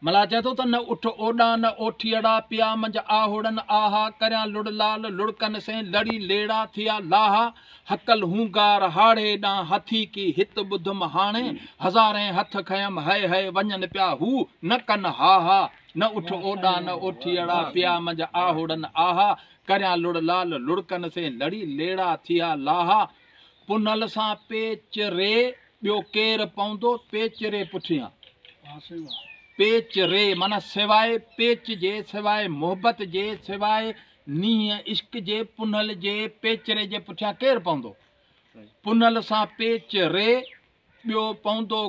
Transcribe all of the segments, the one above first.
ملاح چئي ٿو ته نه اٺ اوڏا نه اوٺيئڙا، پيا منجھ آهوڙن آها، ڪريان لڙ لال لڙڪن سين، لڙي ليڙا ٿيا لاها، هڪل هونگار هاڙهي ڏانهن هٿي ڪي، هت ٻڌم هاڻي هزارين هٿ کنيم هئي هئي، وڃن پيا هو نه ڪن هاها، نه اٺ اوڏا نه اوٺيئڙا، پيا منجھ آهوڙن آها، ڪريان لڙ لال لڙڪن سين، لڙي ليڙا ٿيا لاها، پنهل سان پيچ ري. ٻيو ڪير پوندو پيچ ري پٺيان. پيچ ري معنيٰ سواء پيچ جي، سواء محبت جي، سواء نينهن عشق جي، پنهل جي پيچ ري جي پٺيان ڪير پوندو؟ پنهل سان پيچ ري ٻيو پوندو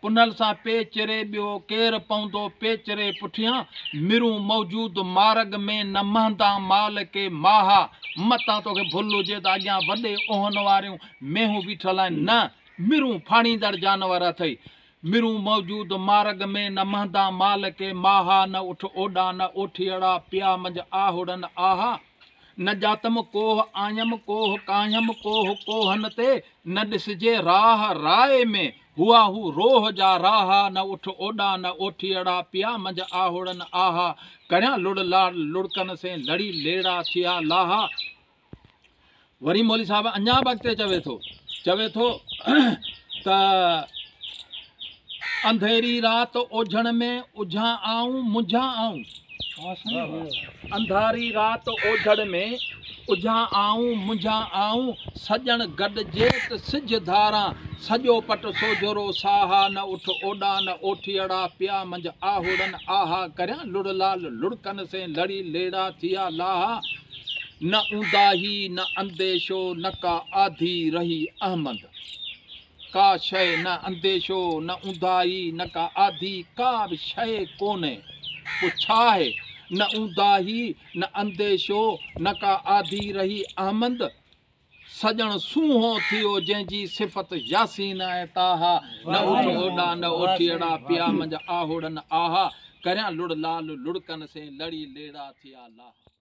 پنهل سان پيچ ري ٻيو ڪير پوندو پيچ ري پٺيان مرون موجود مارڳ ۾ نه مهندان مال ڪي ماها متان توکي ڀل هجي ته اڳيان وڏي اونهن واريون مينهون بيٺل آهن نه مرون ڦاڙيندڙ جانور اٿئي مرون موجود مارڳ ۾ نه مهندان مال ڪي ماها نه اٺ اوڏا نه اوٺيئڙا پيا منجھ آهوڙن آها نه ڄاتم ڪوهه آيم ڪوهه ڪاهيم ڪوهه ڪوهن تي نه ڏسجي راهه راء ۾ هئا هو روهه جا راها نه اٺ اوڏا نه اوٺيئڙا پيا منجھ آهوڙن آها ڪريان لڙ لاڙ لڙڪن سين لڙي ليڙا ٿيا لاها وري مولوي صاحب اڃا به اڳتي چوي ٿو چوي ٿو ته انڌيري رات اوجھڻ ۾ اجھا آئون منجھا آئون انڌاري رات اوجھڙ ۾ اجھا آئون منجھا آئون سڄڻ گڏجي ته سج ڌاران سڄو پٽ سوجھرو ساها نه اٺ اوڏان اوٺيئڙا پيا منجھ آهوڙن آها ڪريان لڙ لال لڙڪن سين لڙي ليڙا ٿيا لاها نه اونداهي نه انديشو نه ڪا آڌي رهي احمد ڪا شيء نه انديشو نه اونداهي نه ڪا آڌي ڪا به شيء ڪونهي پوء ڇا آهي نه اونداهي نه انديشو نه ڪا آڌي رهي احمد سڄڻ سونهو ٿيو جنهن جي صفت ياسين ۽ طاها نه اٺ اوڏا نه اوٺيئڙا پيا منجهه آهوڙن آها ڪريان لڙ لال لڙڪن سين لڙي ليڙا ٿيا لاها.